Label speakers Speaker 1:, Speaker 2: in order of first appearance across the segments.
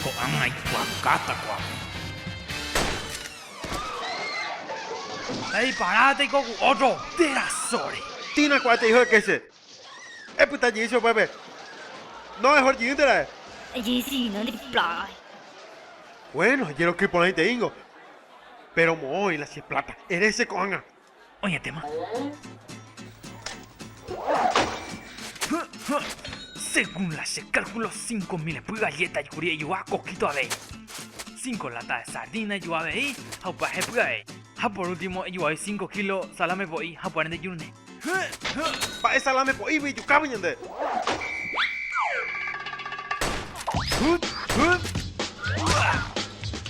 Speaker 1: Ko'ág̃a aikuaakáta kuaápe. Eipara teiko ku ótro terasóre. Tĩna kuaáte hijo de kéche. Epyta jey che upépe. No mejor jiýnte ra'e. Ejehesigina nde plágagui. Bueno, jeroky porãiteíngo. Péro moõ oĩla che pláta. Ere che ko'ág̃a. Oñetéma. Según la che cálculo, 5.000 epy galleta jukuri ejoa coquito avei. 5 lata de sardina ejoa avei ha upa hepy avei. Ha por último ejoai 5 kilo salame po'i ha upa rende jurune. Mba'e salame po'ígui ijukávo ñande.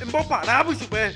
Speaker 1: Emboparávo ichupe.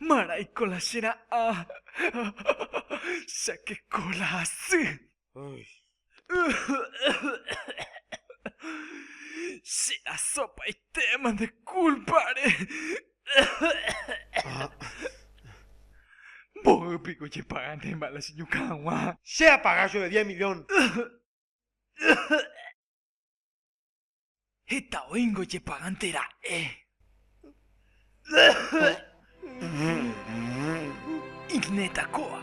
Speaker 1: Maraiko la che ra'ã. Chakeko la hasy. Che rasopaitéma nde kúlpare. Mboy piko jepaganéma la che ñukã hag̃ua. Che apaga chove diez milión. Heta oĩngo ojepagánte ra'e. Igneta kóva.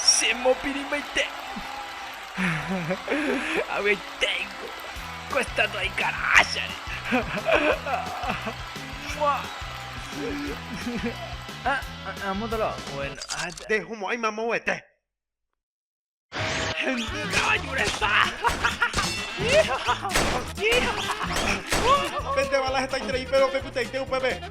Speaker 1: Che mopirĩmbaite. Avy'aiténgo ko estátua aikaráchare. Mua. Nde homo'ãi mamoguete. Hendy kavaju resa. Pende bala hetaiterei, péro pe pytaite upépe.